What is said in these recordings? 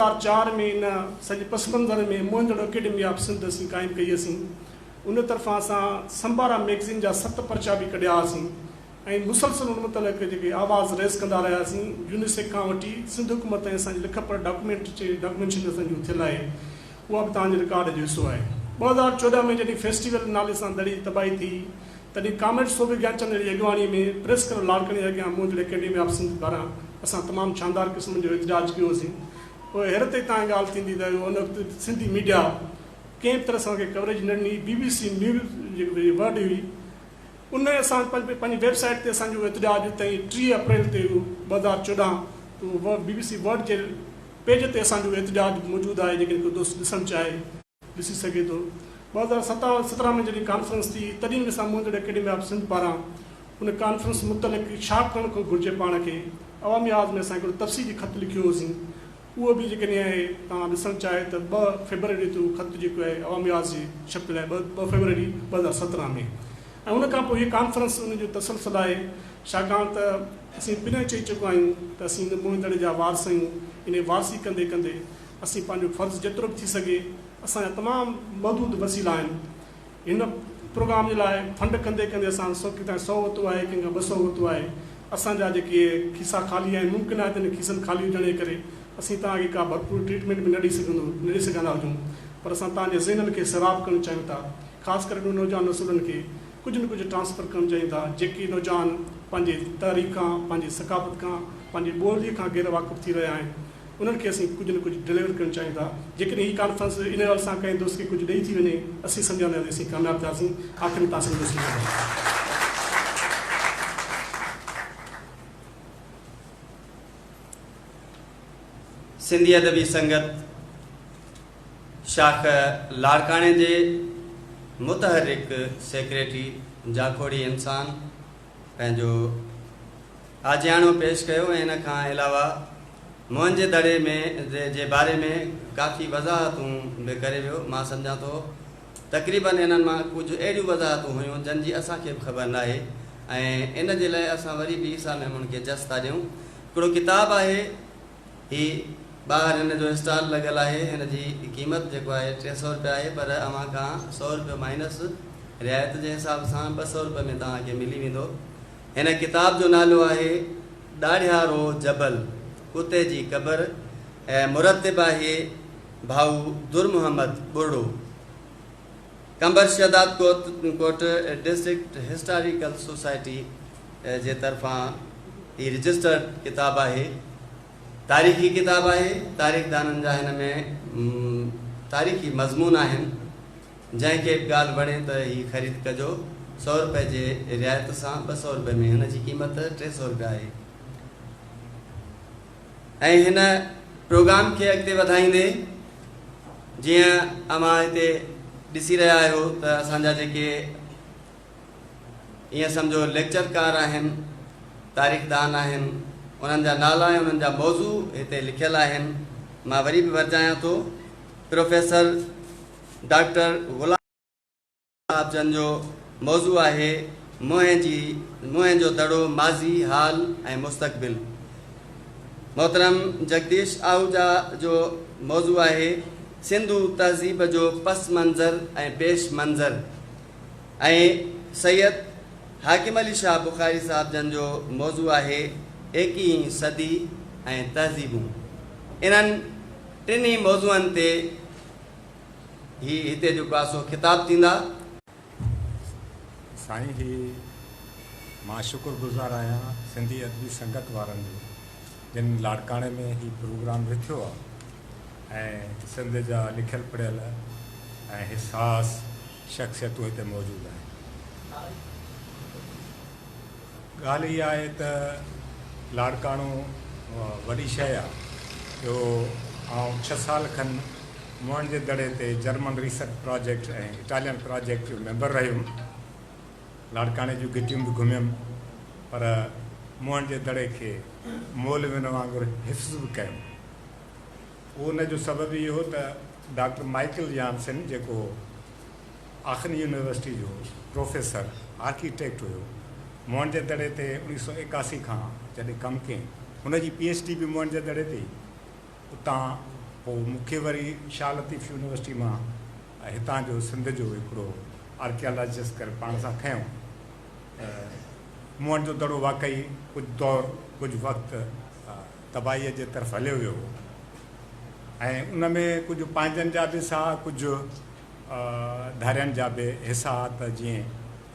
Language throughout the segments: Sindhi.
هزار چار ۾ ان سڄي پس منظر ۾ موهندڙو اڪيڊمي آف سنڌ اسين قائم ڪئي هئسين. ان طرفان اسان سمبارا مئگزين جا ست پرچا به ڪڍيا هئاسين ۽ مسلسل ان متعلق جيڪي آواز ريز ڪندا رهياسين. يونيسيڪ کان وٺي سنڌ حڪومت تائين اسان جي لک پر ڊاڪومينٽ جي ڊاڪومينشن اسان جي اٿيل آهي. اها به توهان جي رڪارڊ جو حصو آهي. ٻه هزار چوڏهن ۾ جڏهن فيسٽيول نالي سان دڙي تباهي ٿي تڏهن ڪامريڊ صوڀي گيانچند جي اڳواڻي ۾ پريس ڪلب لاڙڪاڻي جي اڳيان موجود اڪيڊمي آف سنڌ پاران اسان تمام شاندار قسم جو احتجاج ڪيو هوسين پوء حيرت جي تان ڳالهه ٿيندي ته ان وقت سنڌي ميڊيا ڪنهن به طرح سان کي ڪوريج نه ڏني بي بي سي نيوز جيڪي ورلڊ هئي ان اسان پنهنجي ويب سائيٽ تي اسان جو احتجاج تئين ٽيهه اپريل تي ٻه هزار چوڏهن تي بي بي سي ورلڊ جي پيج تي اسان جو احتجاج موجود آهي جيڪڏهن ڪو دوست ڏسڻ چاهي. ڏسي سگهي ٿو. ٻه هزار ست ۽ سترهن ۾ جڏهن ڪانفرنس ٿي تڏهن به اسان موهندڙ اڪيڊمي آف سنڌ پاران ان ڪانفرنس متعلق ڇا ڪرڻ کون گهرجي پاڻ کي عوامي آواز ۾ اسان هڪڙو تفصيلي خط لکيو هوسين اهو به جيڪڏهن اهي توهان ڏسڻ چاهي ته ٻه فيبروري تي اهو خط جيڪو آهي عوامي آواز جي ڇپيل آهي ٻه ٻه فيبروري ٻه هزار سترهن ۾ ۽ ان کان پوء هي ڪانفرنس ان جو تسلسل آهي ڇاڪاڻ ته اسين پنهن چئي چڪا آهيون ته اسين ان موهندڙ جا وارث آهيون انهي وارثي ڪندي ڪندي اسين پنهنجو فرض جيترو به ٿي سگهي اسان جا تمام محدود وسيلا آهن هن پروگرام جي لاء فنڊ ڪندي ڪندي اسان سو ڪي تائين سؤ ورتو آهي ڪنهن کان ٻه سؤ ورتو آهي اسان جا جيڪي کيسا خالي آهن ممڪن آهي ته انهن کيسن خالي هجڻ جي ڪري اسين توهان کي ڪا ڀرپور ٽريٽمينٽ به نه ڏئي سگهندو نه ڏئي سگهندا هجون پر اسان توهان جي ذهنن کي سيراب ڪرڻ چاهيون ٿا خاص ڪري انهن نوجوان نسلن کي ڪجهه نه ڪجهه ٽرانسفر ڪرڻ چاهيون ٿا جيڪي نوجوان پنهنجي تحريڪ کان پنهنجي ثقافت کان پنهنجي ٻولي کان غير واقف ٿي رهيا آهن انهن کي اسين ڪجهه نه ڪجهه ڊليور ڪرڻ چاهيون ٿا. جيڪڏهن هي ڪانفرنس ان ڳالهه سان ڪنهن دوست کي ڪجهه ڏئي ٿي وڃي، اسين سمجهندا ته اسين ڪامياب ٿياسين. آخر ۾ توهان سڀني جو شڪريو ادا. سنڌي ادبي سنگت شاخ لاڙڪاڻي جي متحرڪ سيڪريٽري جاکوڙي انسان پنهنجو آجياڻو پيش ڪيو ۽ ان کان علاوه موئن جي دڙي ۾ جي باري ۾ ڪافي وضاحتون به ڪري ويو. مان سمجهان ٿو تقريباً انهن مان ڪجهه اهڙيون وضاحتون هيون جن جي اسان کي به خبر ناهي ۽ ان جي لاء اسان وري به عيسيٰ ميمڻ کي جس ٿا ڏيون. هڪڙو ڪتاب آهي. هي ٻاهر هن جو اسٽال لڳل آهي هن جي قيمت جيڪو آهي ٽي سؤ روپيا آهي پر اوهان کان سؤ روپيو مائنس رعايت جي حساب سان ٻه سؤ روپئي ۾ توهان کي ملي ويندو هن ڪتاب جو نالو آهي ڏاڙهيارو جبل ڪتي جي قبر ۽ مرتب آهي ڀائو Durmuhammad Barro. Qambar Shahdadkot district historical society جي طرفان هي رجسٽرڊ ڪتاب آهي. تاريخي ڪتاب آهي. تاريخدانن جا هن ۾ تاريخي مضمون آهن. جنهن کي به ڳالهه وڻي ته هي خريد ڪجو. سؤ رپئي جي رعايت سان ٻه سؤ رپئي ۾ هن جي قيمت ٽي سؤ رپيا آهي. ۽ هن پروگرام کي اڳتي وڌائيندي جيئن اوهان هتي ڏسي رهيا آهيو ته اسان جا جيڪي ائين سمجهو ليڪچر ڪار آهن، تاريخ دان آهن، انهن جا نالا ۽ انهن جا موضوع هتي لکيل آهن، مان وري به ورجايان ٿو پروفيسر ڊاڪٽر غلام. صاحب جن جو موضوع آهي موهين جي موهين جو دڙو ماضي حال ۽ مستقبل محترم جگديش آهوجا جو موضوع آهي سنڌو تهذيب جو پس منظر ۽ پيش منظر ۽ سيد حاڪم علي شاهه بخاري صاحب جن جو موضوع آهي ايڪيهين صدي ۽ تهذيبون انهن ٽنهي موضوعن تي هي هتي جو ڪاسو خطاب ٿيندا. سائين جي مان شڪر گذار آهيان سنڌي ادبي سنگت وارن جو جن لاڙڪاڻي ۾ هي پروگرام رٿيو آهي ۽ سنڌ جا لکيل پڙهيل ۽ حساس شخصيتون هتي موجود آهن. ڳالهه اها آهي ته لاڙڪاڻو وڏي شيء آ جو آئون ڇهه سال کن موهڻ جي دڙي تي German research project ۽ Italian project جو ميمبر رهيم. لاڙڪاڻي جون گهٽيون به گهميم پر موهڻ جي دڙي کي مولوين وانگر حفظ به ڪيم. ان جو سبب اهو ته ڊاڪٽر مائيڪل يانسن جيڪو آخن يونيورسٽي جو پروفيسر آرڪيٽيڪٽ هيو. موهنجي دڙي تي اوڻيهه سؤ ايڪاسي کان جڏهن ڪم ڪيم، هن جي پي ايڇ ڊي به موهنجي دڙي تي ئي هئي. اتان پوء مون کي وري شاهه لطيف يونيورسٽي مان هتان جو سنڌ جو هڪڙو آرڪيالاجسٽ ڪري پاڻ سان کنيو ته موهنجو دڙو واقعي ڪجهه دور ڪجهه وقت تباهيء جي طرف هليو ويو هو ۽ ان ۾ ڪجهه پنهنجن جا به ساهه ڪجهه ڌارين جا به حصا ته جيئن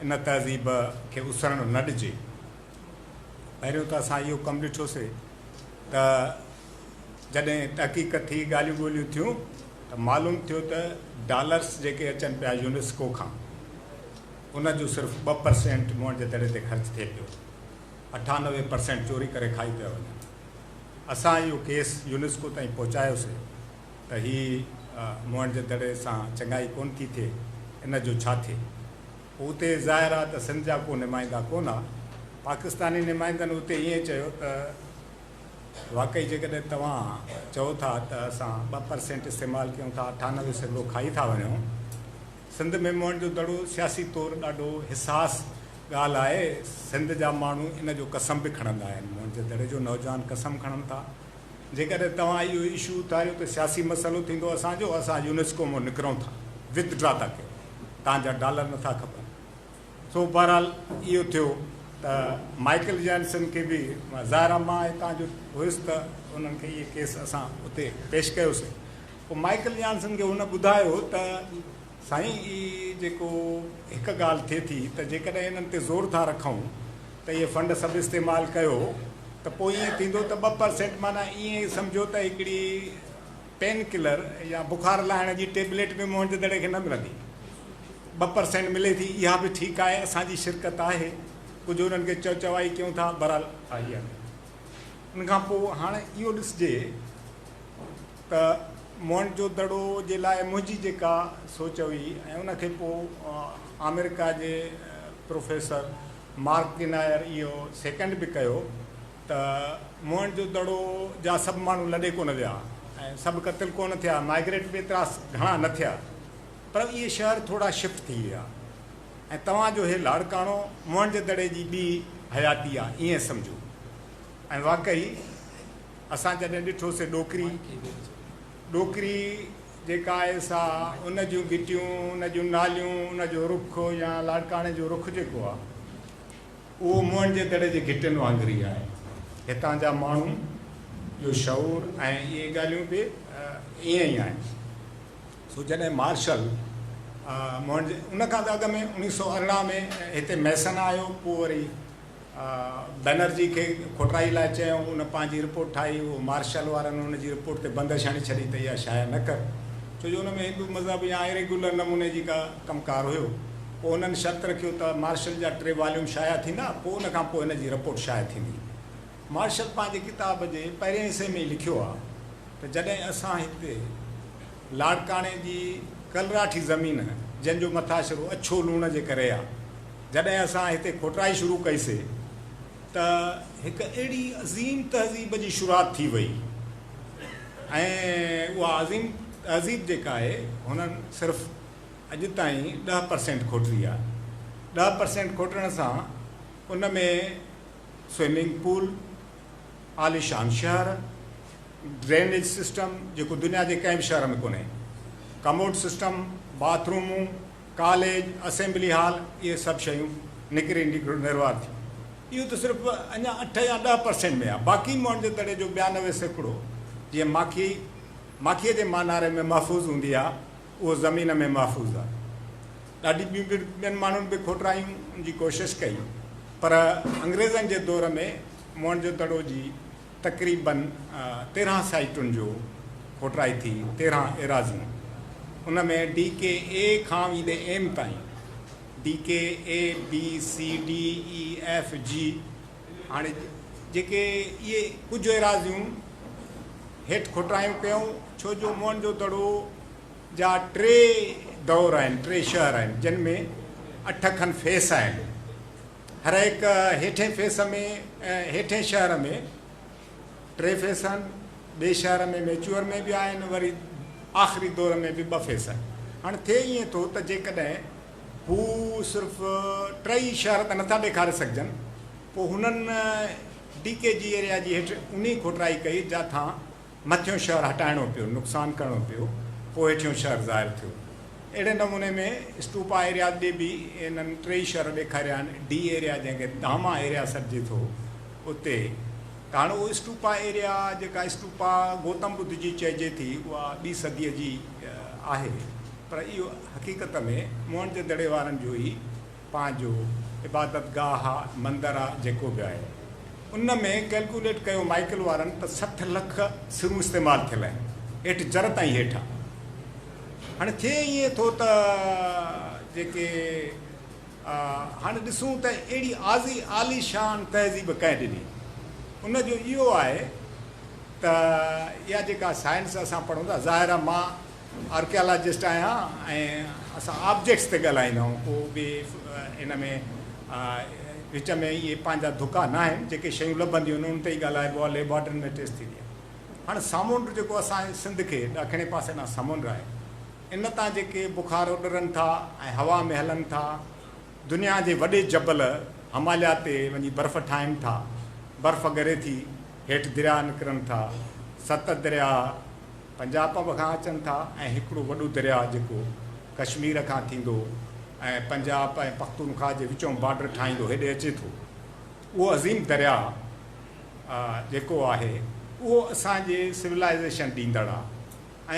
ان تهذيب کي اسرڻ نه ڏجي. پهريون ته اسان اهو ڪم ڏٺوسي ته جڏهن تحقيق ٿي ڳالهيون ٻولهيون ٿيون ته معلوم ٿيو ته ڊالرس جيڪي اچن پيا يونيسڪو کان ان جو صرف ٻه پرسينٽ موئن جي دڙي تي خرچ ٿئي پيو اٺانوي پرسينٽ چوري ڪري کائي پيا وڃن. اسان اهو ڪيس يونيسڪو تائين پهچايوسي. ته هي موهڻ جي دڙي سان چڱائي ڪونه ٿي ٿئي، ان جو ڇا ٿئي؟ پوء اتي ظاهر آهي ته سنڌ جا ڪو نمائندا ڪونه ها. پاڪستاني نمائندن اتي ائين چيو ته واقعي جيڪڏهن توهان چئو ٿا ته اسان ٻه پرسينٽ استعمال ڪيون ٿا، اٺانوي سيڪڙو کائي ٿا وڃون. سنڌ ۾ موهڻ جو دڙو سياسي طور ڏاڍو حساس ڳالهه آهي. سنڌ جا ماڻهو ان جو قسم به کڻندا آهن. موهڻ جي دڙي جو نوجوان قسم کڻن ٿا. جيڪڏهن توهان اهو اشو اٿاريو ته سياسي مسئلو ٿيندو اسان جو اسان يونيسڪو مان نڪرون ٿا وٿ ڊرا ٿا ڪيون تان جا ڊالر نٿا کپن سو بهرحال اهو ٿيو ته مائيڪل جانسن کي به ظاهر آ مان هتان جو هيس ته انهن کي اهي ڪيس اسان اتي پيش ڪيوسين پوء مائيڪل جانسن کي هن ٻڌايو ته سائين هي جيڪو هڪ ڳالهه ٿئي ٿي ته جيڪڏهن انهن تي زور ٿا رکون ته اهي فنڊ سڀ استعمال ڪيو ته پوء ائين ٿيندو ته ٻه پرسينٽ معنيٰ ائين ئي سمجهو ته هڪڙي پين ڪلر يا بخار لاهڻ جي ٽيبليٽ به موهنجدڙي کي نه ملندي ٻه پرسينٽ ملي ٿي اها به ٺيڪ آهي اسان جي شرڪت آهي ڪجهه انهن کي چئو چوائي ڪيون ٿا بهرحال آهي ان کان پوء هاڻ اهو ڏسجي ته موهن جو دڙو جي لاء منهنجي جيڪا سوچ هئي ۽ ان کي پوء آمريڪا جي پروفيسر مارڪ گنائر اهو سيڪنڊ به ڪيو ته موهن جو دڙو جا سڀ ماڻهو لڏي ڪونه ويا ۽ سڀ قتل ڪونه ٿيا مائگريٽ به ايترا گهڻا نه ٿيا پر اهي شهر ٿورا شفٽ ٿي ويا ۽ توهان جو هي لاڙڪاڻو موهن جو دڙي جي ٻي حياتي آهي ائين سمجهو ۽ واقعي اسان جڏهن ڏٺو سي ڏوڪري، ڏوڪري جيڪا آهي سا ان جون گهٽيون، ان جون ناليون، ان جو رخ يا لاڙڪاڻي جو رخ جيڪو آهي اهو موهن جي دڙي جي گهٽين وانگر ئي آهي. هتان جا ماڻهو جو شعور ۽ اهي ڳالهيون به ائين ئي آهن. سو جڏهن مارشل موهن جي ان کان به اڳ ۾ اڻيهه سؤ ارڙهن ۾ هتي ميسن آيو پوء وري بئنرجي کي کوٽرائي لاء چيائون، ان پنهنجي رپورٽ ٺاهي، اهو مارشل وارن ان جي رپورٽ تي بندش هڻي ڇڏي ته اها شايع نه ڪر، ڇو جو ان ۾ هندو مذهب يا Irregular نموني جي ڪا ڪم ڪار هيو. پوء هنن شرط رکيو ته مارشل جا ٽي واليوم شايع ٿيندا، پوء ان کان پوء هن جي رپورٽ شايع ٿيندي. مارشل پنهنجي ڪتاب جي پهرين حصي ۾ ئي لکيو آهي ته جڏهن اسان هتي. لاڙڪاڻي جي ڪلراٺي زمين جنھن جو مٿاشرو اڇو لوڻ جي ڪري آ جڏھن اسان ھتي کوٽرائي شروع ڪئي سي ته ھڪ اھڙي عظيم تھذيب جي شروعات ٿي وئي ۽ اھا عظيم تھذيب جيڪا آھي ھنن صرف اڄ تائين ڏھ پرسينٽ کوٽري آ ڏھ پرسينٽ کوٽرڻ سان ان ۾ سوئمنگ پول عاليشان شهر، ڊرينيج سسٽم جيڪو دنيا جي ڪنهن به شهر ۾ ڪونهي، ڪموڊ سسٽم، باٿ رومون، ڪاليج، اسيمبلي هال اهي سڀ شيون نڪري نروار ٿيون. اهو ته صرف اڃا اٺ يا ڏهه پرسينٽ ۾ آهي، باقي موهنجو دڙي جو ٻيانوي سيڪڙو جيئن ماکي ماکيء جي ماناري ۾ محفوظ هوندي آهي، اهو زمين ۾ محفوظ آهي. ڏاڍي ٻين ٻين ماڻهن به کوٽرائڻ جي ڪوشش ڪئي پر انگريزن جي دور ۾ موهن جو دڙو جي تقريباً تيرهن سائيٽن جو کوٽرائي ٿي تيرهن ايراضيون ان ۾ ڊي ڪي اي کان ويندي ايم تائين D K A B C D E F G هاڻي جيڪي اهي ڪجهه ايراضيون هيٺ کوٽايون ڪيون، ڇو جو موهن جو دڙو جا ٽي دور آهن، ٽي شهر آهن، جن ۾ اٺ کن فيس آهن. هرهڪ هيٺين فيس ۾ هيٺين شهر ۾ ٽي فيس آهن، ٻئي شهر ۾ ميچوئر ۾ به آهن، وري آخري دور ۾ به ٻه فيس آهن. هاڻي ٿئي ائين ٿو ته جيڪڏهن هو صرف ٽئي شهر ته نٿا ڏيکاري سگهجن، پوء هنن ڊي ڪي جي ايريا جي هيٺ اونهي کوٽرائي ڪئي جانٿان مٿيون شهر هٽائڻو پيو، نقصان ڪرڻو پيو، پوء هيٺيون شهر ظاهر ٿيو. اهڙي نموني ۾ اسٽوپا ايرياز ڏي به هنن ٽئي شهر ڏيکاريا آهن، ڊي ايريا جنهن کي دهاما ايريا سڏجي ٿو اتي هاڻ اهو اسٽوپا ايريا جيڪا اسٽوپا گوتم ٻڌ جي چئجي ٿي اها ٻي صديء جي آهي پر اهو حقيقت ۾ موهن جو دڙي وارن جو ئي پنهنجو عبادت گاهه آ، مندر آ، جيڪو به آهي. ان ۾ ڪئلڪوليٽ ڪيو مائيڪل وارن ته سٺ لک سرون استعمال ٿيل آهن، هيٺ جر تائين هيٺ آ. هاڻي ٿئي ائين ٿو ته جيڪي آ هاڻي ڏسون ته اهڙي عازي عالي شان تهذيب ڪنهن ڏني؟ ان جو اهو آهي ته اها جيڪا سائنس اسان پڙهون ٿا، ظاهر آ مان آرڪيالاجسٽ آهيان ۽ اسان آبجيڪٽس تي ڳالهائيندا آهيون ڪو به ان ۾ وچ ۾ اهي پنهنجا دڪا نه آهن جيڪي شيون لڀنديون آهن ان تي ئي ڳالهائبو آهي ليبارٽرين ۾ ٽيسٽ ٿيندي آهي هاڻ سامونڊ جيڪو اسان جي سنڌ کي ڏکڻي پاسي ڏانهن سمنڊ آهي ان تان جيڪي بخار اڏرن ٿا ۽ هوا ۾ هلن ٿا دنيا جي وڏي جبل هماليا تي وڃي برف ٺاهين ٿا برف ڳري ٿي هيٺ درياهه نڪرن ٿا ست درياهه پنجاپب کان اچن ٿا ۽ هڪڙو وڏو درياهه جيڪو ڪشمير کان ٿيندو ۽ پنجاب ۽ پختونخواه جي وچون بارڊر ٺاهيندو هيڏي اچي ٿو اهو عظيم درياهه جيڪو آهي اهو اسان جي سولائيزيشن ڏيندڙ آ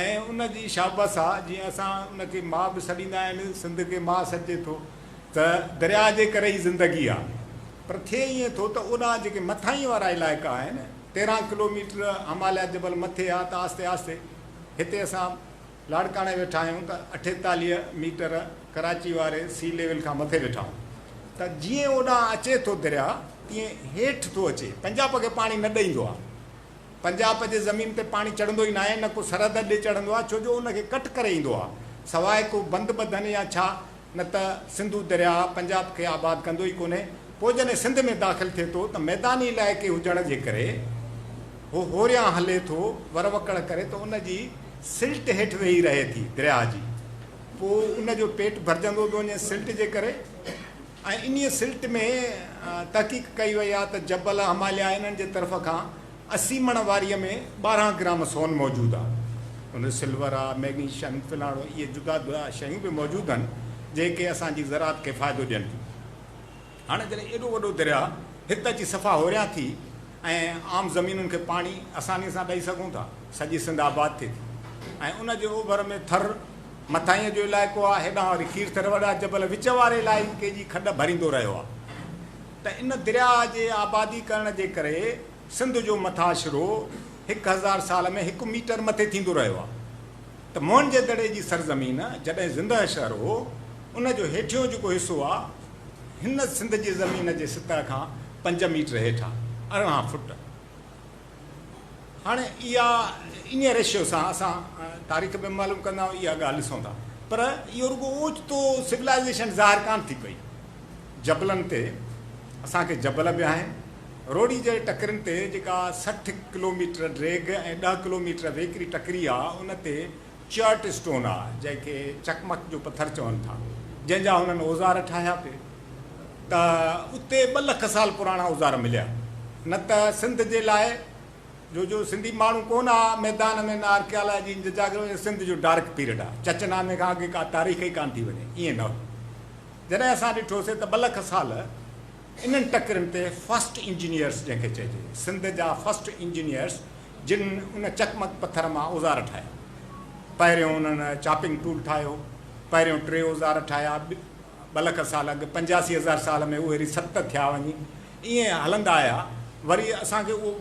۽ ان جي شابس آ جيئن اسان ان کي ماء به سڏيندا آهن سنڌ کي ماء سڏجي ٿو ته درياهه جي ڪري ئي زندگي آ پر ٿئي ائين ٿو ته اوڏانهن جيڪي مٿاهين وارا علائقا آهن تيرهن ڪلو ميٽر هماليا جبل مٿي آ ته آهستي آهستي هتي اسان لاڙڪاڻي ويٺا آهيون ته اٺيتاليهه ميٽر ڪراچي واري سي ليول کان مٿي ويٺا آهيون ته جيئن اوڏانهن اچي ٿو درياء تيئن هيٺ ٿو اچي پنجاپ کي پاڻي نه ڏئيندو آ پنجاپ جي زمين تي پاڻي چڙهندو ئي ناهي نه ڪو سرحد ڏي چڙهندو آ ڇو جو ان کي ڪٽ ڪري ايندو آ سواء ڪو بند ٻڌن يا ڇا نه ته سنڌو درياهه پنجاب کي آباد ڪندو ئي ڪونهي. پوء جڏهن سنڌ ۾ داخل ٿئي ٿو ته ميداني علائقي هجڻ جي ڪري هو هوريان هلي ٿو وروڪڙ ڪري ته ان جي سلٽ هيٺ ويهي رهي ٿي درياهه جي پوء ان جو پيٽ ڀرجندو ٿو وڃي سلٽ جي ڪري ۽ انهيء سلٽ ۾ تحقيق ڪئي وئي آهي ته جبل هماليا انهن جي طرف کان اسي مڻ واريء ۾ ٻارهن گرام سون موجود آ. ان سلور آ، مئگنيشن، فلاڻو اهي جدا جدا شيون به موجود آهن، جنهن کي اسان جي زراعت کي فائدو ڏين ٿيون. هاڻ جڏهن ايڏو وڏو درياء هت اچي صفا هوريان ٿي ۽ عام زمينن کي پاڻي آسانيء سان ڏئي سگهون ٿا، سڄي سنڌ آباد ٿئي ٿي ۽ ان جي اوڀر ۾ ٿر مٿاهينء جو علائقو آ، هيڏانهن وري کير ٿر وڏا جبل وچ واري علائقي جي کڏ ڀريندو رهيو آ. ته ان درياهه جي آبادي ڪرڻ جي ڪري سنڌ جو مٿاڇرو هڪ هزار سال ۾ هڪ ميٽر مٿي ٿيندو رهيو آهي ته موهن جي دڙي جي سرزمين جڏهن زندهه شهر هو ان جو هيٺيون جيڪو حصو آهي هن سنڌ جي زمين جي سطح کان پنج ميٽر هيٺ آهي، ارڙهن فٽ. هاڻ اها انهيء ريشيو سان اسان تاريخ به معلوم ڪندا آهيون اها ڳالهه ڏسون ٿا پر اهو رڳو اوچتو سولائيزيشن ظاهر ڪانه ٿي پئي جبلن تي اسان کي جبل به آهن روڙي جي ٽڪرين تي جيڪا سٺ ڪلوميٽر ڊريگ ۽ ڏهه ڪلوميٽر ويڪري ٽڪري آهي ان تي چرٽ اسٽون آهي جنهن کي چڪمڪ جو پٿر چون ٿا جنهن جا هنن اوزار ٺاهيا پي ته اتي ٻه لک سال پراڻا اوزار مليا نه ته سنڌ جي لاء جو جو سنڌي ماڻهو ڪو نه آ ميدان ۾ نه آرڪيالاجي جي جاڳ ۾ سنڌ جو ڊارڪ پيريڊ آ چچ نامي کان اڳي ڪا تاريخ ئي ڪانه ٿي وڃي ائين نه هو جڏهن اسان ڏٺوسي ته ٻه لک سال انهن ٽڪرين تي فرسٽ انجنيئرس جنهن کي چئجي سنڌ جا فرسٽ انجنيئرس جن ان چقمق پٿر مان اوزار ٺاهيا پهريون انهن چاپنگ ٽول ٺاهيو پهريون ٽي اوزار ٺاهيا ٻه لک سال اڳ، پنجاسي هزار سال ۾ اهيري ست ٿيا وڃي ائين هلندا آيا وري اسان کي اهو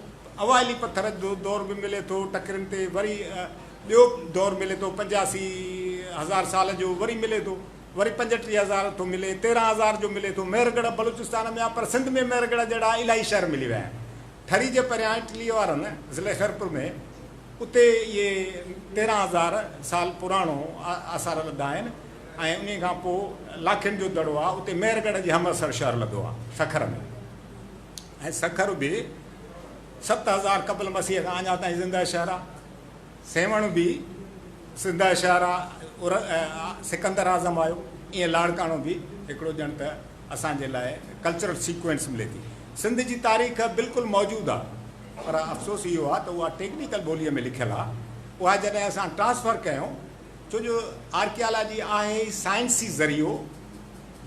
اوائلي پٿر جو دور به ملي ٿو ٽڪرين تي وري ٻيو دور ملي ٿو پنجاسي هزار سال جو وري ملي ٿو وري پنجٽيهه هزار ٿو ملي تيرهن هزار جو ملي ٿو مهر ڳڙهه بلوچستان ۾ آهي پر سنڌ ۾ مهر ڳڙهه جهڙا الائي شهر ملي ويا آهن ٺري جي پريان اٽلي وارن ضلعي خيرپور ۾ اتي اهي تيرهن هزار سال پراڻو آثار لڌا آهن ۽ انهي کان پوء لاکين جو دڙو آهي اتي مهر ڳڙهه جي همعصر شهر لڌو آهي سکر ۾ ۽ سکر به ست هزار قبل مسيح کان اڃا تائين زنده شهر آهي سيوهڻ به زنده شهر آهي سڪندر اعظم آيو ائين لاڙڪاڻو به هڪڙو ڄڻ ته اسان جي لاء ڪلچرل سيڪوينس ملي ٿي سنڌ جي تاريخ بلڪل موجود آهي پر افسوس اهو آهي ته اها ٽيڪنيڪل ٻوليء ۾ لکيل آهي اها جڏهن اسان ٽرانسفر ڪيون ڇو جو آرڪيالاجي آهي ئي سائنسي ذريعو،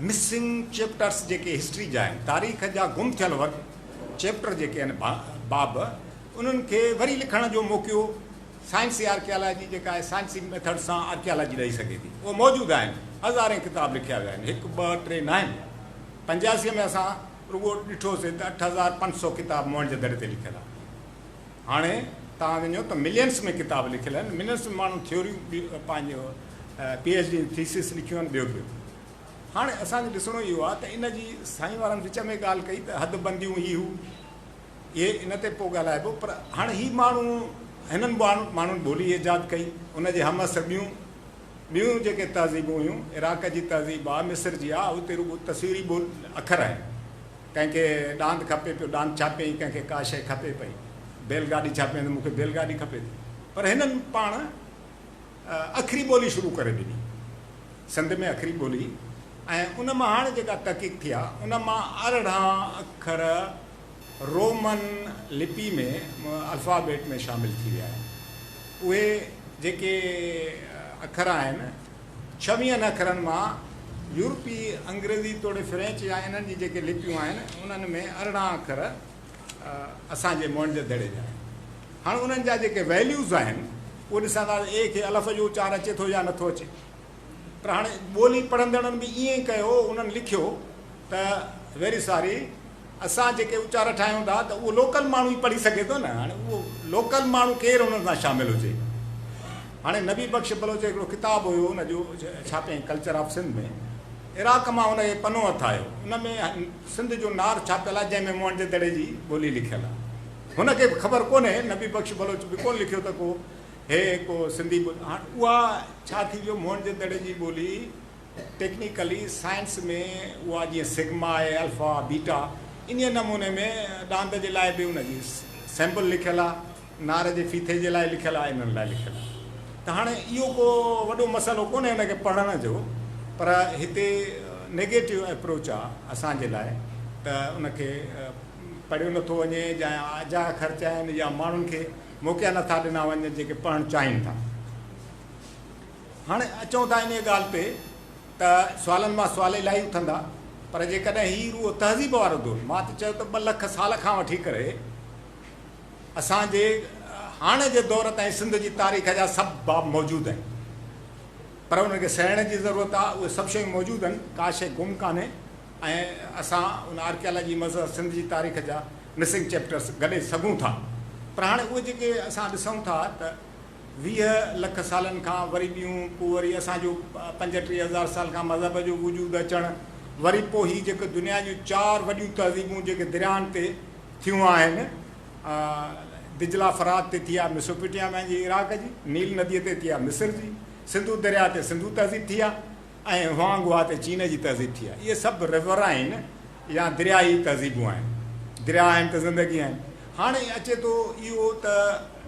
مسنگ چيپٽرس جيڪي هسٽري جا آهن، تاريخ جا گم ٿيل ورق، چيپٽر جيڪي آهن، باب، انهن کي وري لکڻ جو موقعو سائنسي آرڪيالاجي جيڪا آهي سائنسي ميٿڊ سان آرڪيالاجي ڏئي سگهي ٿي. اهي موجود آهن، هزارين ڪتاب لکيا ويا آهن، هڪ ٻه ٽي ناهن، پنجاسي ۾ اسان رڳو ڏٺوسين ته اٺ هزار پنج سؤ ڪتاب موهن جدڙي تي لکيل آهن. هاڻي توهان وڃو ته ملينس ۾ ڪتاب لکيل آهن، ملينس ۾ ماڻهن ٿيوريون پنهنجو پي ايڇ ڊي جون ٿيسز لکيون آهن ٻيو ٻيو. هاڻي اسان کي ڏسڻو اهو آهي ته ان جي سائين وارن وچ ۾ ڳالهه ڪئي ته حد بنديون هي هو اهي ان تي پوء ڳالهائبو پر هاڻي هي ماڻهو هنن ماڻهن ٻولي ايجاد ڪئي ان جي همعصر ٻيون ٻيون جيڪي تهذيبون هيون عراق جي تهذيب آهي مصر جي آهي اتي رڳو تصويري اکر آهن. ڪنهن کي ڏاند کپي پيو ڏاند ڇاپيائين، ڪنهن کي ڪا شيء کپي پئي، بيل گاڏي ڇاپيائين ته مون کي بيل گاڏي کپي ٿي. پر هنن پاڻ اکري ٻولي شروع ڪري ڏني. سنڌ ۾ اکري ٻولي ۽ ان مان هاڻي جيڪا تحقيق ٿي آهي، ان مان ارڙهن اکر رومن لپي ۾ الفابيٽ ۾ شامل ٿي ويا آهن. اهي جيڪي اکر آهن. ڇويهن اکرن مان يورپي انگريزي توڙي فرينچ يا انهن جي جيڪي لپيون آهن انهن ۾ ارڙهن اکر اسان جي موئن جي دڙي جا آهن هاڻ انهن جا جيڪي ويليوز آهن اهي ڏسان ٿا ته اي کي الف جو اچار اچي ٿو يا نٿو اچي پر هاڻي ٻولي پڙهندڙن به ائين ڪيو انهن لکيو ته ويري ساري اسان جيڪي اچار ٺاهيون ٿا ته اهو لوڪل ماڻهو ئي پڙهي سگهي ٿو نه هاڻي اهو لوڪل ماڻهو ڪير انهن سان شامل هجي هاڻي نبي بخش بلوچ جو هڪڙو ڪتاب هيو ان جو ڇاپين ڪلچر آف سنڌ ۾ عراق مان ان کي پنو هٿ آيو ان ۾ سنڌ جو نار ڇاپيل آهي جنهن ۾ موهن جي دڙي جي ٻولي لکيل آهي هن کي به خبر ڪونهي نبي بخش بلوچ به ڪونه لکيو ته ڪو هي ڪو سنڌي ٻولي هاڻي اها ڇا ٿي ويو موهن جي دڙي جي ٻولي ٽيڪنيڪلي سائنس ۾ اها جيئن سگما آهي، الفا، بيٽا انهيء نموني ۾ ڏاند جي لاء به ان جي سيمبل لکيل آهي، نار جي ڦيٿي جي لاء لکيل آهي انهن لاء لکيل آهي ته هاڻي اهو ڪو وڏو مسئلو ڪونهي ان کي پڙهڻ جو پر هتي نيگيٽو ايپروچ آهي اسان جي لاء ته ان کي پڙهيو نه ٿو وڃي جا اجايا خرچ آهن يا ماڻهن کي موقعا نه ٿا ڏنا وڃن جيڪي پڙهڻ چاهين ٿا. هاڻي اچون ٿا انهيء ڳالهه تي ته سوالن مان سوال الائي اٿندا، پر جيڪڏهن هي روح تهذيب وارو دور، مان ته چيو ته ٻه لک سال کان وٺي ڪري اسان جي هاڻ جي دور تائين سنڌ جي تاريخ جا سڀ باب موجود آهن، پر انهن کي سهيڙڻ جي ضرورت آهي، اهي سڀ شيون موجود آهن، ڪا شيء گم ڪانهي ۽ اسان ان آرڪيالاجي مظهر سنڌ جي تاريخ جا مسنگ چيپٽرز گڏي سگهون ٿا، پر هاڻي اهي جيڪي اسان ڏسون ٿا ته ويهه لک سالن کان وري ڏيون پوء وري اسان جو پنجٽيهه هزار سال کان مذهب جو وجود اچڻ وري پوء هي جيڪي دنيا جون چار وڏيون تهذيبون جيڪي درياهن تي ٿيون آهن دجله فرات تي ٿي آهي ميسوپيٽيا ۾ جي عراق جي نيل ندي تي ٿي آهي مصر جي سنڌو درياهه تي سنڌو تهذيب ٿي آهي ۽ هوانگ هوا تي چين جي تهذيب ٿي آهي. اهي سڀ River آهن يا درياء ئي تهذيبون آهن. درياء آهن ته زندگي آهن. هاڻي اچي ٿو اهو ته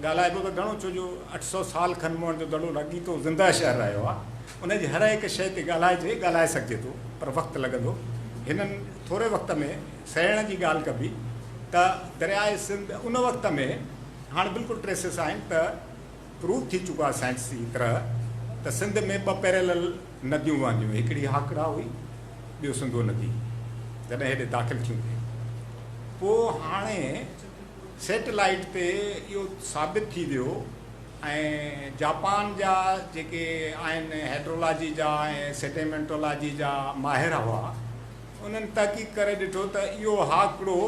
ڳالهائبو ته گهڻو ڇو جو اٺ سؤ سال کن موهن جو دڙو لڳيتو زندهه شهر رهيو آهي. ان جي هر هڪ شيء تي ڳالهائجي، ڳالهائي سگهجي ٿو پر وقت لڳندو. هنن ٿوري وقت ۾ سهيڙڻ جي ڳالهه ڪبي ته درياء سنڌ ان وقت ۾ هاڻي بلڪل Traces آهن ته، پروف ٿي چڪو آهي سائنسي طرح ته سنڌ ۾ ٻه پيريلل نديون وهنديون هيون هڪڙي هاڪڙا هئي ٻيو سنڌو ندي جڏهن هيڏي داخل ٿيون ٿي پوء هاڻي سيٽلائيٽ تي اهو ثابت ٿي ويو ۽ جاپان جا جيڪي آهن هيڊرولاجي جا ۽ سيٽيمينٽولاجي جا ماهر هئا انهن تحقيق ڪري ڏٺو ته اهو هاڪڙو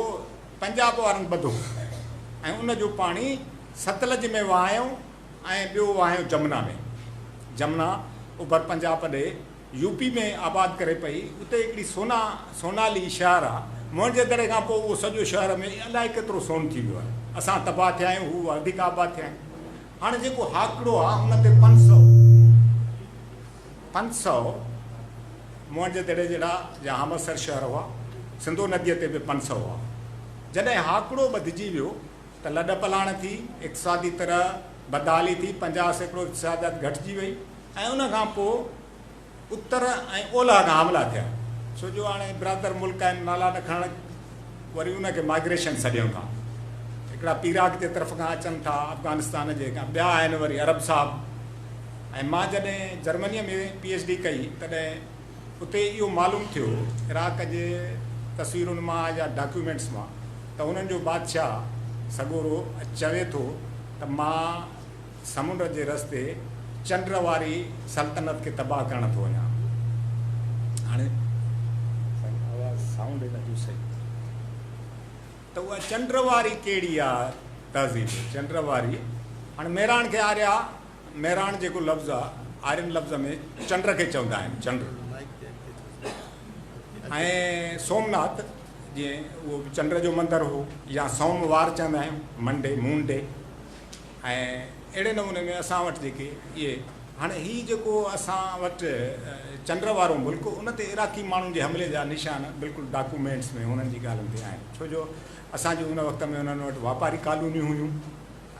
پنجاب وارن ٻڌو ۽ ان جو پاڻي ستلج ۾ وهايو ۽ ٻيو وهايو جمنا ۾. جمنا اوڀر پنجاب ڏي يو پي ۾ آباد ڪري پئي. اتي هڪڙي سونا، سونالي، شهر آ. موهنجي دڙي کان پوء اهو سڄو شهر ۾ الائي ڪيترو سون ٿي ويو آهي. اسان تباهه ٿيا آهيون، هو وڌيڪ آباد ٿيا آهن. هاڻي جيڪو هاڪڙو آ ان تي پنج سؤ. پنج سؤ موهن جي دڙي جهڙا جا همعصر شهر هئا. سنڌو نديء تي به پنج سؤ هئا. جڏهن هاڪڙو ٻڌجي ويو ته لڏپلاڻ ٿي، اقتصادي طرح بدحالي ٿي، پنجاهه سيڪڙو اقتصاديات گهٽجي وئي ۽ ان کان پوء اتر ۽ اولهه کان حملا ٿيا. ڇو جو هاڻي برادر ملڪ آهن، نالا نه کڻڻ. وري ان کي مائگريشن سڏيون ٿا. هڪڙا پيراڪ جي طرف کان اچن ٿا، افغانستان جي کان ٻيا آهن وري عرب صاحب ۽ مان جڏهن جرمنيء ۾ پي ايڇ ڊي ڪئي تڏهن اتي اهو معلوم ٿيو عراق جي تصويرن مان يا ڊاڪيومينٽس مان ته انهن جو بادشاهه سڳورو چوي ٿو ته مان سمنڊ جي رستي چنڊ واري سلطنت کي تباهه ڪرڻ ٿو وڃان. هاڻي سائين آواز سائونڊ هن جو صحيح ته اها چنڊ واري ڪهڙي آ تهذيب چنڊ واري هاڻي ميراڻ کي آريا ميراڻ جيڪو لفظ آ آرين لفظ ۾ چنڊ کي چوندا آهن چنڊ ۽ سومناٿ جي اهو به چنڊ جو مندر هو يا سوم وار چوندا آهيون منڊي مون ڊي ۽ اهڙي نموني ۾ اسان وٽ جيڪي اهي هاڻي هي جيڪو اسان وٽ چنڊ وارو ملڪ ان تي عراقي ماڻهن جي حملي جا نشان بلڪل ڊاڪومينٽس ۾ هنن جي ڳالهين تي آهن ڇو جو اسان جي ان وقت ۾ انهن وٽ واپاري ڪالونيون هيون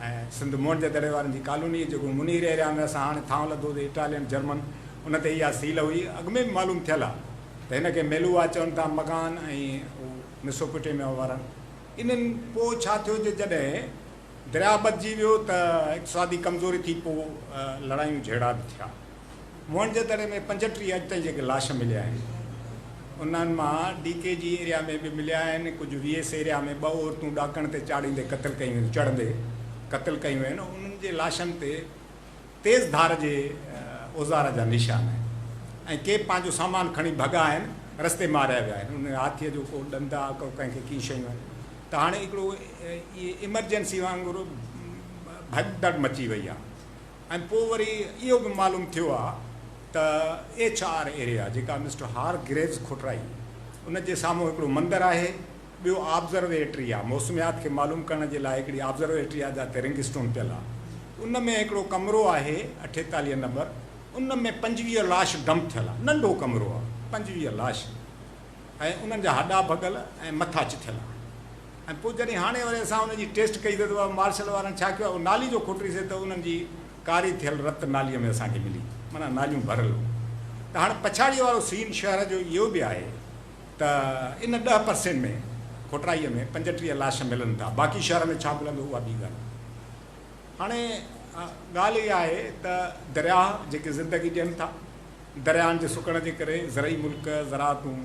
۽ سنڌ موهن جي دڙي وارن جي ڪالوني جيڪو منير ايريا ۾ اسان هاڻي ٿانو لڌو تي اٽالين جرمن ان تي اها سيل هئي اڳ ۾ به معلوم ٿيل آهي ته هن کي ميلوا چون ٿا مڪان ۽ ميسوپوٽيميا وارن انهن پوء ڇا ٿيو جو جڏهن درياهه ٻڌجي ويو ته اقتصادي ڪمزوري ٿي پوء لڙايون جهيڙا به ٿيا. موهن جي دڙي ۾ پنجٽيهه اڄ تائين جيڪي لاش مليا آهن انهن مان ڊي ڪي جي ايريا ۾ به مليا آهن ڪجهه وي ايس ايريا ۾ ٻه عورتون ڏاڪڻ تي چاڙهيندي قتل ڪيون ويون چڙهندي قتل ڪيون ويون انهن جي لاشن تي تيز ڌار جي اوزار جا نشان آهن ۽ ڪي پنهنجو سامان کڻي ڀڳا آهن رستي ماريا ويا آهن ان هاٿي جو ڪو ڏند آ ڪو ڪنهن کي ڪي شيون آهن ته هاڻي هڪڙو ايمرجنسي وانگر ڀڄ دڙ مچي وئي آ ۽ پو وري اهو به معلوم ٿيو آ ته ايڇ آر ايريا جيڪا مسٽر هار گريوز کوٽرائي ان جي سامهون هڪڙو مندر آهي ٻيو آبزرويٽري آ، موسميات کي معلوم ڪرڻ جي لاء هڪڙي آبزرويٽري آ جاتي رنگ اسٽون پيل آ. ان ۾ هڪڙو ڪمرو آهي اٺيتاليهه نمبر ان ۾ پنجويهه لاش ڊمپ ٿيل آ. ننڍو ڪمرو آ. پنجويهه لاش ۽ انهن جا هڏا ڀڳل ۽ مٿا چٿيل آهن ۽ پوء جڏهن هاڻي وري اسان انهن جي ٽيسٽ ڪئي ته مارشل وارن ڇا ڪيو آ اهو نالي جو کوٽري سي ته انهن جي ڪاري ٿيل رت ناليء ۾ اسان کي ملي معنيٰ ناليون ڀريل هيون ته هاڻي پڇاڙيء وارو سين شهر جو اهو به آهي ته ان ڏهه پرسين ۾ کوٽرائيء ۾ پنجٽيهه لاش ملن ٿا، باقي شهر ۾ ڇا ملندو اها ٻي ڳالهه آهي. هاڻي ڳالهه اها آهي ته درياهه جيڪي زندگي ڏين ٿا، درياهن جي سڪڻ جي ڪري زرعي ملڪ، زراعتون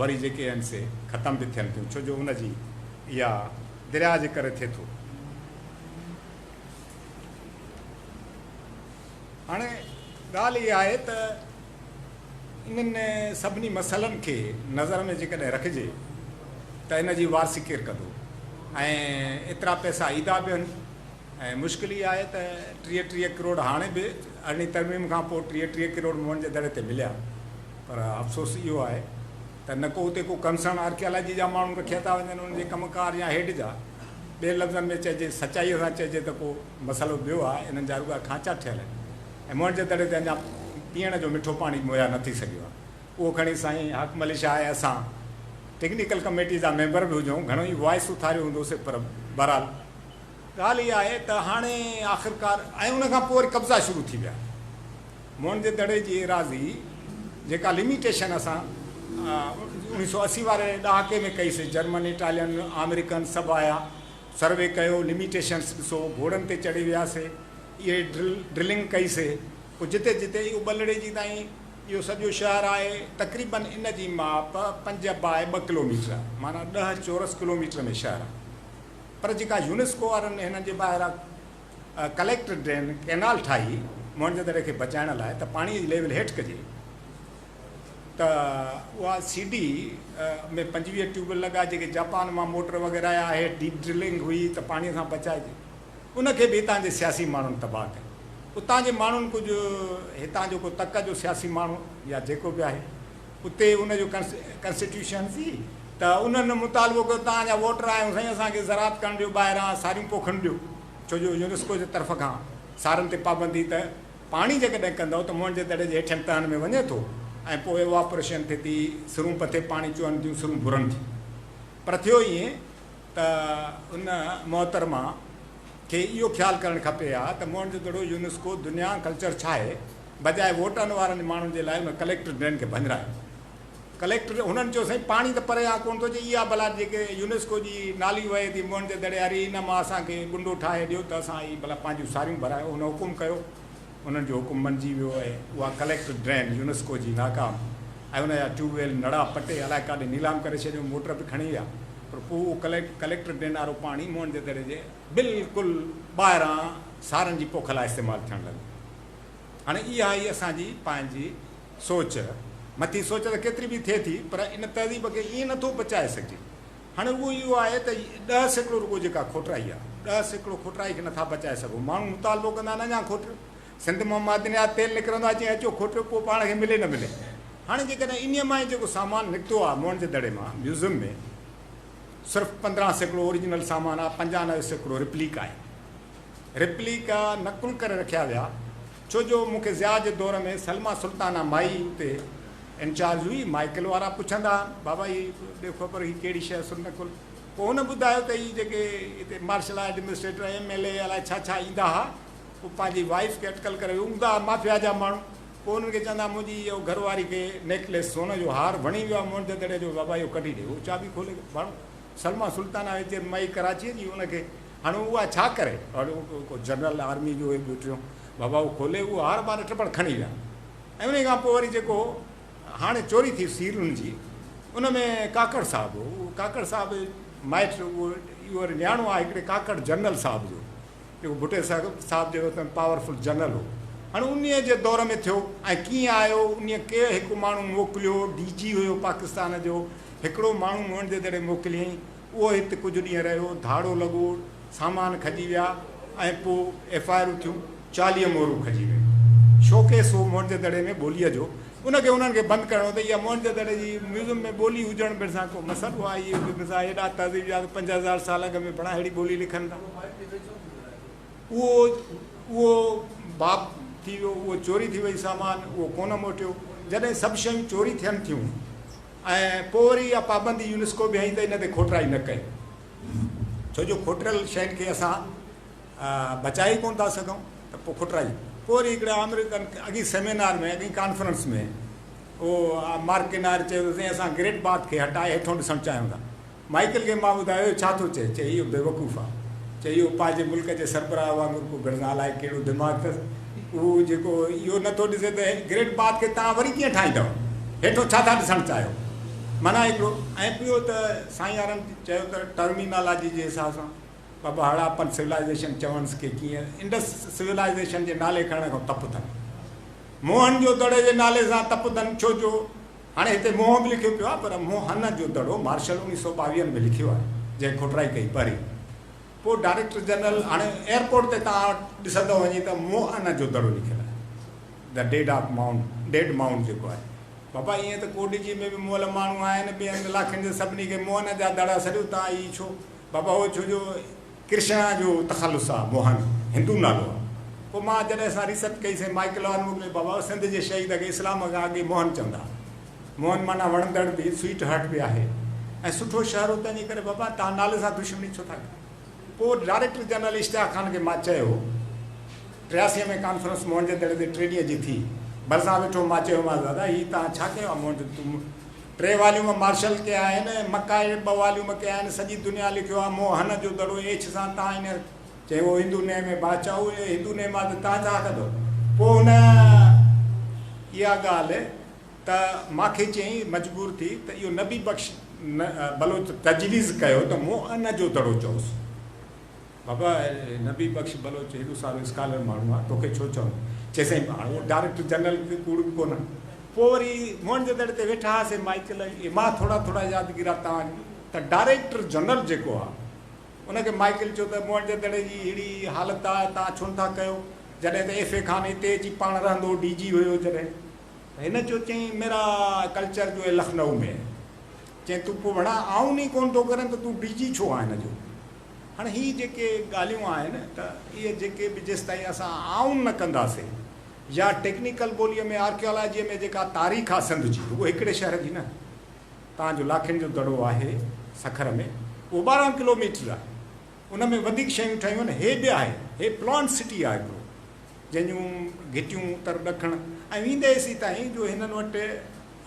وري جيڪي آهن سي ختم به ٿين ٿيون ڇو جو ان جي اها درياهه جي ڪري ٿئي ٿو. هاڻي ڳالهه اها آهي ته انهن سڀني مسئلن کي نظر ۾ جيڪڏهن رکجي ته ان جي وارثي ڪير ڪندو ۽ ايترا پئسا ايندا به هن ۽ مشڪل ئي آهي ته ٽيهه ٽيهه ڪروڙ هاڻي به ارڙهين ترميم کان پوء ٽيهه ٽيهه ڪروڙ موهن جي دڙي تي مليا پر افسوس اهو آهي ته نه ڪو اتي ڪو ڪنسرن آرڪيالاجي جا ماڻهو رکيا ٿا وڃن انهن جي ڪم ڪار يا هيڊ جا ٻين لفظن ۾ چئجي سچائي سان چئجي ته ڪو مسئلو ٻيو آهي انهن جا رڳا کانچا ٺهيل آهن. ۽ موهن جي دڙي تي اڃا پيئڻ جو مٺو پاڻي مهيا نه ٿي سگهيو آهي اهو کڻي سائين حاڪم علي شاهه ۽ اسان ٽيڪنيڪل ڪميٽي جا ميمبر به هجون گهڻو ئي وائس اٿاريو هوندو سي پر بهرحال ڳالهه اها آهي ته هاڻي آخرڪار ۽ ان کان پوء وري قبضا شروع ٿي ويا موهن جي دڙي جي ايراضي جيڪا لميٽيشن اسان اوڻيهه سؤ اسي واري ڏهاڪي ۾ ڪئي سي جرمن اٽالين آمريڪن سڀ آيا سروي ڪيو لميٽيشنس ڏسو گهوڙن تي چڙهي ويا سي اهي ڊرلنگ ڪئي سي پوء جتي جتي اهو ٻلڙي جي تائين اهو سڄو شهر آهي تقريباً ان جي ماپ پنج باء ٻه ڪلوميٽر آهي معنيٰ ڏهه چورس ڪلوميٽر ۾ شهر آهي پر جيڪا يونيسڪو وارن هنن جي ٻاهران ڪليڪٽر ڊرين ڪئنال ٺاهي موهنجو دڙي کي بچائڻ لاء ته پاڻي جي ليول هيٺ ڪجي ته اها سي ڊي ۾ پنجويهه ٽيوب ويل لڳا جيڪي جاپان مان موٽر وغيره آيا هيٺ ڊيپ ڊرلنگ هئي ته پاڻي سان بچائجي ان کي به هتان جي سياسي ماڻهن تباهه ڪيو. اتان جي ماڻهن ڪجهه هتان جو ڪو تڪ جو سياسي ماڻهو يا جيڪو به آهي اتي ان جو ڪنسٽيٽيوشن سي ته انهن مطالبو ڪيو ته اوهان جا ووٽر آهيون سائين اسان کي زراعت ڪرڻ ڏيو ٻاهران ساريون پوکن ڏيو ڇو جو يونيسڪو جي طرف کان سارن تي پابندي ته پاڻي جيڪڏهن ڪندؤ ته موهن جي دڙي جي هيٺين تهن ۾ وڃي ٿو ۽ پوء ايواپوريشن ٿي ٿي سرون پٿي پاڻي چوهن ٿيون سرون ڀرن ٿيون پر ٿيو ائين ته ان محترمه کي اهو خيال ڪرڻ کپي ها ته موهنجو دڙو يونيسڪو دنيا ڪلچر ڇاهي بجاء ووٽن وارن ماڻهن جي لاء ان ڪليڪٽر ڊرين کي ڀڃرايو ڪليڪٽر هنن چيو سائين پاڻي ته پري آ ڪونه ٿو جي اها بلا جيڪي يونيسڪو جي نالي وهي ٿي موهنجو دڙي واري ان مان اسان کي ڪنڊو ٺاهي ڏيو ته اسان هي بلا پنهنجون ساريون ڀرايون هن حڪم ڪيو انهن جو حڪم مڃجي ويو ۽ اها ڪليڪٽر ڊرين يونيسڪو جي ناڪام ۽ ان جا ٽيوب ويل نڙا پٽي الائي ڪاڏي نيلام ڪري ڇڏيو، موٽر به کڻي ويا پر پوء اهو ڪليڪٽر ڊرين وارو پاڻي موهن جي دڙي جي بلڪل ٻاهران سارن جي پوک لاء استعمال ٿيڻ لڳو. هاڻي اها ئي اسان جي پنهنجي سوچ مٿي سوچ ته ڪيتري به ٿئي ٿي پر ان تهذيب کي ائين نٿو بچائي سگهجي هاڻي اهو ئي اهو آهي ته ڏهه سيڪڙو رڳو جيڪا کوٽرائي آهي، ڏهه سيڪڙو کوٽرائي کي نٿا بچائي سگهو. ماڻهو مطالبو ڪندا آهن اڃا کوٽريو، سنڌ مان معدنيات تيل نڪرندو آهي، چئين اچو کوٽريو پوء پاڻ کي ملي نه ملي. هاڻي جيڪڏهن انهيء مان ئي جيڪو سامان نڪتو آهي موهن جي دڙي مان ميوزم ۾ صرف پندرهن سيڪڙو اوريجنل سامان آهي، پنجانوي سيڪڙو ريپليڪا آهن. ريپليڪا نقل ڪري رکيا ويا. ڇو جو مون کي ضياء جي دور ۾ سلميٰ سلطانه مائي اتي انچارج هئي. مائيڪل وارا پڇندا ها، بابا هي ڏيو خبر هي ڪهڙي شيء سلميٰ ڪل. پوء هن ٻڌايو ته هي جيڪي هتي martial administrator, M L A الائي ڇا ڇا ايندا ها، هو پنهنجي وائيف کي اٽڪل ڪري ويو هوندا ها، مافيا جا ماڻهو. پوء هنن کي چوندا ها منهنجي اهو گهر واري کي نيڪليس، سون جو هار، وڻي ويو آهي مونڊ دڙي جو، بابا اهو ڪڍي ڏي. هو چاٻي کولي ڀاڻو. سلميٰ سلطان آهي جي مئي ڪراچيء جي ان کي هاڻي اها ڇا ڪري؟ اهو جنرل آرميء جو هي ٻوٽريون بابا اهو کولي اهو هار ٻار ٽپڙ کڻي ويا ۽ انهيء کان پوء وري جيڪو هاڻي چوري ٿي سيرن جي ان ۾ ڪاڪڙ صاحب هو اهو ڪاڪڙ صاحب مائٽ اهو اهو وري نياڻو آهي هڪڙي ڪاڪڙ جنرل صاحب جو جيڪو ڀٽو صاحب جي وقت ۾ پاور فل جنرل هو هاڻي انهيء جي دور ۾ ٿيو ۽ ڪيئن آيو انهيء ڪير هڪ ماڻهو موڪليو ڊي جي هيو پاڪستان جو هڪڙو ماڻهو مون وٽ جيتوڻيڪ موڪليائين اهو هت ڪجهه ڏينهن رهيو ڌاڙو لڳو سامان کڄي ويا ۽ پوء ايف آء آرون ٿيون چاليهه مورون کڄي ويون شوڪيس هو مون وٽ جي دڙي ۾ ٻوليء جو ان کي انهن کي بند ڪرڻو ته اها موهنجو دڙي جي ميوزم ۾ ٻولي هجڻ ڀرسان ڪو مسئلو آهي اهو جو مزاح ايڏا تهذيب يا ته پنج هزار سال اڳ ۾ پڻا اهڙي ٻولي لکن ٿا اهو اهو باب ٿي ويو اهو چوري ٿي وئي سامان اهو ڪونه موٽيو جڏهن سڀ شيون چوري ٿين ٿيون ۽ پوء وري اها پابندي يونسڪو به هنئي ته ان تي کوٽائي نه ڪيو ڇو جو کوٽريل شين کي اسان بچائي ڪونه ٿا سگهون ته پوء کٽرائي پوء وري هڪڙي آمريڪن اڳئين سيمينار ۾ اڳئين ڪانفرنس ۾ اهو مارڪينار چيو ته سائين اسان گريٽ باٿ کي هٽائي هيٺون ڏسڻ چاهيون ٿا مائيڪل کي مان ٻڌايو اهو ڇا ٿو چئي چئي اهو بيوقوف آهي چئي اهو پنهنجي ملڪ جي سربراهه وانگر ڪو گهڙ نه الائي ڪهڙو دماغ اٿس اهو جيڪو اهو نه ٿو ڏسي ته گريٽ باٿ کي توهان وري ڪيئن ٺاهيندؤ هيٺون ڇا ٿا ڏسڻ چاهيو معنيٰ هڪڙو ۽ ٻيو ته سائين يارن چيو ته ٽرمينالاجي جي حساب سان بابا هڙاپن سولائيزيشن چونس ڪي جيئن انڊس سولائيزيشن جي نالي کڻڻ کان تپدن. موهن جو دڙي جي نالي سان تپدن ڇو جو هاڻي هتي موهن به لکيو پيو آهي پر موهن جو دڙو مارشل اڻيهه سئو ٻاويهه ۾ لکيو آهي جنهن کوٽرائي ڪئي پري پوء ڊائريڪٽر جنرل هاڻي ايئرپورٽ تي توهان ڏسندو وڃي ته موهن جو دڙو لکيل آهي The Dead of Mount Dead Mount جيڪو آهي بابا ايئن ته ڪوڏجي ۾ به مئل ماڻهو آهن ٻين علاقن جي سڀني کي موهن جا دڙا سڏيو توهان هي ڇو بابا اهو ڇو جو ڪرشنا جو تخلص آ موهن هندو نالو آ پوء مان جڏهن اسان ريسرچ ڪئي سائين مائيڪل آن موڪلي بابا اهو سنڌ جي شهيد کي اسلام کان اڳي موهن چوندا ها موهن معنيٰ وڻندڙ به سوئيٽ هارٽ به آهي ۽ سٺو شهر هو تنهنجي ڪري بابا توهان نالي سان دشمني ڇو ٿا ڪيو پوء ڊائريڪٽر جنرل اشتياق خان کي مان چيو ٽياسي ۾ ڪانفرنس موهن جي دڙي تي ٽي ڏينهن جي ٿي ڀرسان ويٺو مان چيومانس دادا هي توهان ڇا ڪيو آ موهن جو تون ٽي واليوم مارشل ڪيا آهن ۽ مڪائي ٻه واليوم ڪيا آهن. سڄي دنيا لکيو آهي مون هن جو دڙو ايڇ سان تان هن. چي هو هندو نيم هي بادشاهه هو اهي هندو نيم آهي ته تان ڇا ڪندو پوء هن اها ڳالهه ته ماکي چيائين مجبور ٿي ته اهو نبي بخش بلوچ تجويز ڪيو ته مون ان جو دڙو چئوس. بابا نبي بخش بلوچ هيڏو سارو اسڪالر ماڻهو آ توکي ڇو چئون. چئي سائين هاڻ اهو ڊاريڪٽر جنرل کي ڪوڙ به ڪونه. پوء وري موهن جي دڙي تي ويٺا هئاسين مائيڪل ۽ امان ٿورا ٿورا يادگيرا تان ته ڊاريڪٽر جنرل جيڪو آ ان کي مائيڪل چيو ته موهن جي دڙي جي ههڙي حالت آ تان ڇو نٿا ڪيو جڏهن ته ايف اي خان هتي اچي پاڻ رهندو هو ڊي جي هيو جڏهن ته هن چيو چئين ميرا ڪلچر جو هي لکنئو ۾ هي چئين تون پوء ڀڻا آئون ني ڪونه ٿو ڪرين ته تون ڊي جي ڇو آ هن جو. هاڻ هي جيڪي ڳالهيون آهن ته اهي جيڪي به جيستائين اسان آئون نه ڪنداسين يا ٽيڪنيڪل ٻوليء ۾ آرڪيالاجيء ۾ جيڪا تاريخ آ سنڌ جي رڳو هڪڙي شهر جي نه توهان جو لاکين جو دڙو آهي سکر ۾ اهو ٻارهن ڪلو ميٽر آهي ان ۾ وڌيڪ شيون ٺهيون آهن هي به آهي هي پلانٽ سٽي آ هڪڙو جنهن جون گهٽيون اتر ڏکڻ ۽ ويندي ايسي تائين جو هنن وٽ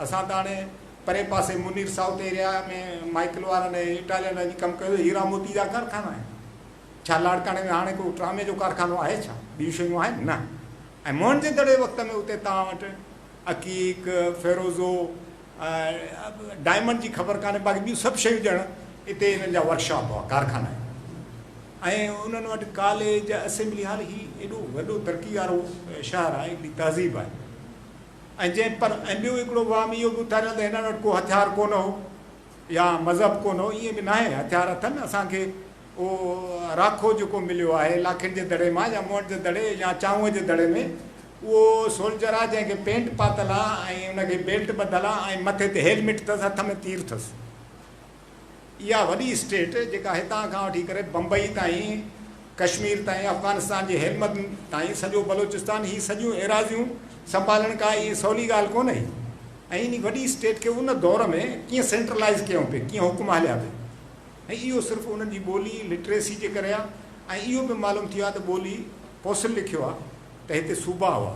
اسان ته هاڻي پرئين پاسي منير سائوٿ ايريا ۾ مائيڪل وارن ۽ اٽالين وارن جي ڪم ڪيو هيرا موتي جا ڪارخانا آهن. ڇا لاڙڪاڻي ۾ هاڻي ڪو ٽرامي جو ڪارخانو آهي ڇا؟ ٻيون شيون آهن؟ نه. ۽ موهن جي دڙي وقت ۾ اتي توهان وٽ عقيق، فيروزو، ڊائمنڊ جي خبر ڪانهي باقي ٻيون سڀ شيون ڄڻ اتي انهن جا ورڪشاپ هئا، ڪارخانا هيا. ۽ انهن وٽ ڪاليج، اسيمبلي هال هي ايڏو وڏو ترقي وارو شهر آهي، ايڏي تهذيب آهي. ۽ جنهن پر ۽ ٻيو هڪڙو وهم اهو به اٿاريو ته هنن وٽ ڪو هٿيار ڪونه هو يا مذهب ڪونه هو ائين به ناهي هٿيار اٿن اسان کي اهو راکو جيڪو مليو آهي لاکين جي دڙي مان يا مونٽ جي دڙي يا چانهوء جي دڙي ۾ اهو سولجر آهي جنهن کي پينٽ پاتل آهي ۽ ان کي بيلٽ ٻڌل آهي ۽ مٿي تي هيلمٽ اٿس هٿ ۾ تير اٿس اها وڏي اسٽيٽ جيڪا هتان کان وٺي ڪري بمبئي تائين، ڪشمير تائين، افغانستان جي هيلمند تائين سڄو بلوچستان هي سڄيون ايراضيون سنڀالڻ ڪا ايئن سولي ڳالهه ڪونه هئي ۽ انهي وڏي اسٽيٽ کي ان دور ۾ ڪيئن سينٽرلائيز ڪيون پي ڪيئن حڪم هليا پي ۽ اهو صرف انهن جي ٻولي لٽريسي جي ڪري آ ۽ اهو به معلوم ٿيو آ ته ٻولي پوسل لکيو آ ته هتي صوبا هئا.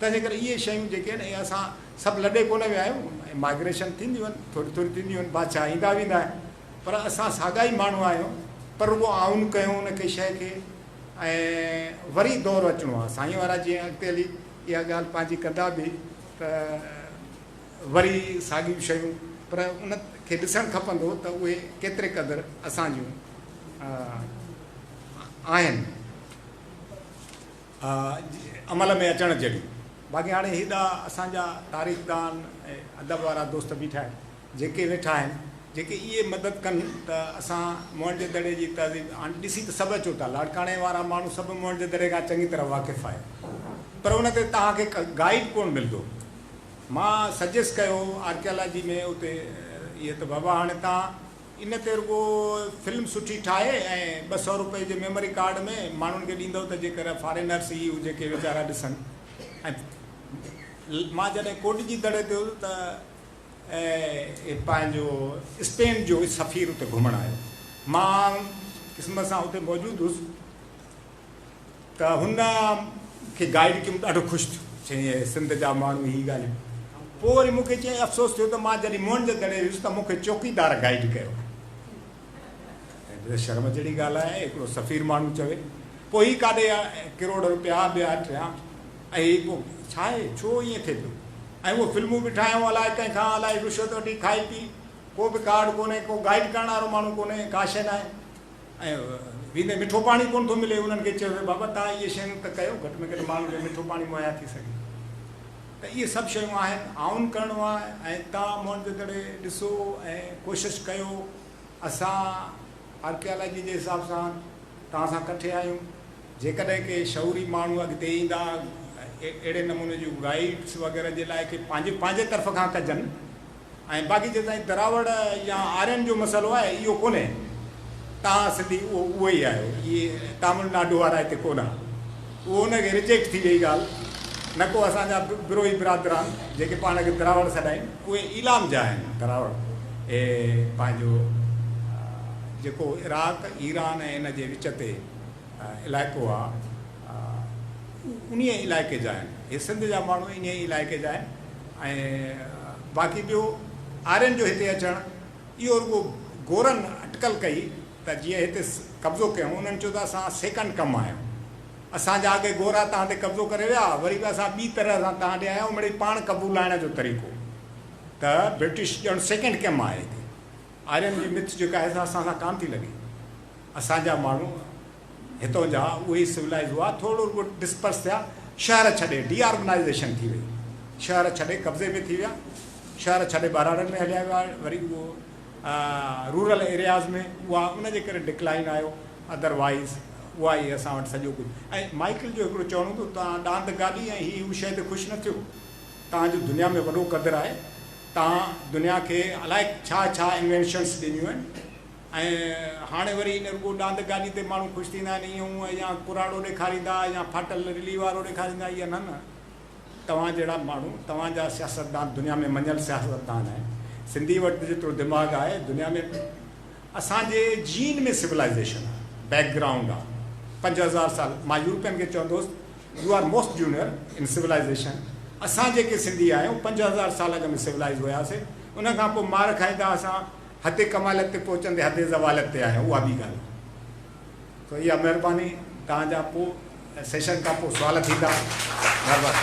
تنهنجي ڪري اهي شيون جيڪي آهن اهي اسان سڀ لڏي ڪونه ويا آهيون ۽ مائگريشن ٿينديون آهن ٿوري ٿوري ٿينديون آهن بادشاهه ايندا ويندا آهن پر اسان ساڳا ئي ماڻهو آهيون پر رڳو آئون ڪيو ان کي شيء کي ۽ وري دور اچڻو آهي سائين وارا جيئن اڳتي هلي اها ڳالهه پنهنجي ڪندا به ته وري ساڳيون شيون پر ان کي ڏسڻ کپندو ته اهي ڪيتري قدر اسان جون آهن عمل ۾ اچڻ جهڙيون. باقي هاڻي هيڏا اسان جا تاريخدان ۽ ادب وارا دوست بيٺا آهن، جيڪي ويٺا آهن، جيڪي اهي مدد ڪن ته اسان موهنجو دڙي جي تهذيب، هاڻي ڏسي ته سڀ اچو ٿا، لاڙڪاڻي وارا ماڻهو سڀ موهنجو دڙي کان چڱي طرح واقف آهيو، پر ان تي توهان کي گائيڊ ڪونه ملندو. مان سجيسٽ ڪيو آرڪيالاجي ۾ اتي اهي ته بابا هاڻي توهان ان تي رڳو فلم سٺي ٺاهي ۽ ٻه سؤ روپئي جي ميموري ڪارڊ ۾ ماڻهن کي ڏيندو ته جيڪر فارينرس ئي هجي ڪي ويچارا ڏسن ۽ مان جڏهن ڪوڏجي دڙي تي هوس ته پنهنجو اسپين جو سفير اتي گهمڻ آيو مان قسمت سان اتي موجود هوس. ته هن کي گائيڊ ڪيم ڏاڍو خوش ٿيو چيائين اهي سنڌ جا ماڻهو هي ڳالهيون پوء وري مون کي چيائين افسوس ٿيو ته مان جڏهن موهن جو دڙي ويس ته مون کي چوڪيدار گائيڊ ڪيو شرم جهڙي ڳالهه آهي هڪڙو سفير ماڻهو چوي پوء هي ڪاڏي ڪروڙ رپيا ٻيا ٽيا ۽ پوء ڇا آهي ڇو ائين ٿي پيو ۽ اهو فلمون به ٺاهيون الائي ڪنهن کان الائي رشوت وٺي کائي پي ڪو به ڪارڊ ڪونهي ڪو گائيڊ ڪرڻ وارو ماڻهو ڪونهي ڪا شيء ناهي ۽ ويندي مٺو پاڻي ڪونه ٿو ملي، انهن کي چيو ويو بابا توهان اهي شيون ته ڪيو، گهٽ ۾ گهٽ ماڻهن کي مٺو پاڻي مهيا ٿي سگهي ته اهي سڀ شيون آهن، آئون ڪرڻو آهي ۽ توهان موئنجودڙي ڏسو ۽ ڪوشش ڪيو، اسان آرڪيالاجي جي حساب سان توهان سان ڪٺي آهيون، جيڪڏهن ڪي شعوري ماڻهو اڳتي ايندا اهڙي نموني جون گائيڊس وغيره جي لاء ڪي پنهنجي پنهنجي طرف کان ڪجن. ۽ باقي جيستائين دراوڙ يا آرين جو مسئلو آهي اهو ڪونهي توهان سنڌي اهو اهي ئي آهيو اهي تامل ناڊو وارا هتي ڪونه آهن اهو ان کي رجيڪٽ ٿي وئي ڳالهه نه ڪو اسان جا بروهي برادران جيڪي پاڻ کي دراوڙ سڏائين اهي ايلام جا آهن دراوڙ اهي پنهنجو جيڪو عراق ايران ۽ ان جي وچ تي علائقو آهي انهيء علائقي جا آهن. هي سنڌ جا ماڻهو انهيء علائقي جا آهن ۽ باقي ٻيو آرين جو هتي اچڻ اهو رڳو گورن اٽڪل ڪئي ته جيئن هتي قبضو ڪيون انهن چيو ته اسان سيڪنڊ ڪم آهيون اسان جا اڳي گورا تهان تي قبضو ڪري ويا وري به اسان ٻي طرح سان تهان ڏي آيون مڙئي پاڻ قبولائڻ جو طريقو ته برٽش ڄڻ سيڪنڊ ڪم آهي هتي آرين جي مٿ جيڪا آهي سا اسان سان ڪانه ٿي لڳي اسان جا ماڻهو هتو جا اهي سولائيز هئا ٿورڙو ڳوٺ ڊسپرس ٿيا شهر ڇڏي ڊي آرگنائيزيشن ٿي وئي شهر ڇڏي قبضي ۾ ٿي ويا شهر ڇڏي ٻهراڙن ۾ هليا ويا وري اهو رورل ايرياز ۾ اها ان جي ڪري ڊڪلائن آيو ادر وائز اها ئي اسان وٽ سڄو ڪجهه ۽ مائيڪل جو هڪڙو چوڻ هوندو تان ڏاند گالي ۽ هي هو شي تي خوش نه ٿيو تان جو دنيا ۾ وڏو قدر آهي تان دنيا کي الائي ڇا ڇا انوينشنس ڏنيون آهن ۽ هاڻي وري هن رڳو ڏاند گاڏي تي ماڻهو خوش ٿيندا آهن ائين هونء يا ڪراڙو ڏيکاريندا يا ڦاٽل رلي وارو ڏيکاريندا اهي نه نه توهان جهڙا ماڻهو توهان جا سياستدان دنيا ۾ مڃيل سياستدان آهن سنڌي وٽ ته جيترو دماغ آهي دنيا ۾ اسان جي جين ۾ سولائيزيشن آهي بيڪ گرائونڊ آهي پنج هزار سال مان يورپين کي چوندو هوس you are most junior in civilisation اسان جيڪي سنڌي آهيون پنج هزار سال اڳ ۾ سولائيز هياسي ان کان پوء مار کائيندا اسان حد ڪماليت تي پهچندي حد زواليت تي آهيان اها ٻي ڳالهه سو اها مهرباني توهان جا پو سيشن کان پو سوال ٿيندا مهرباني.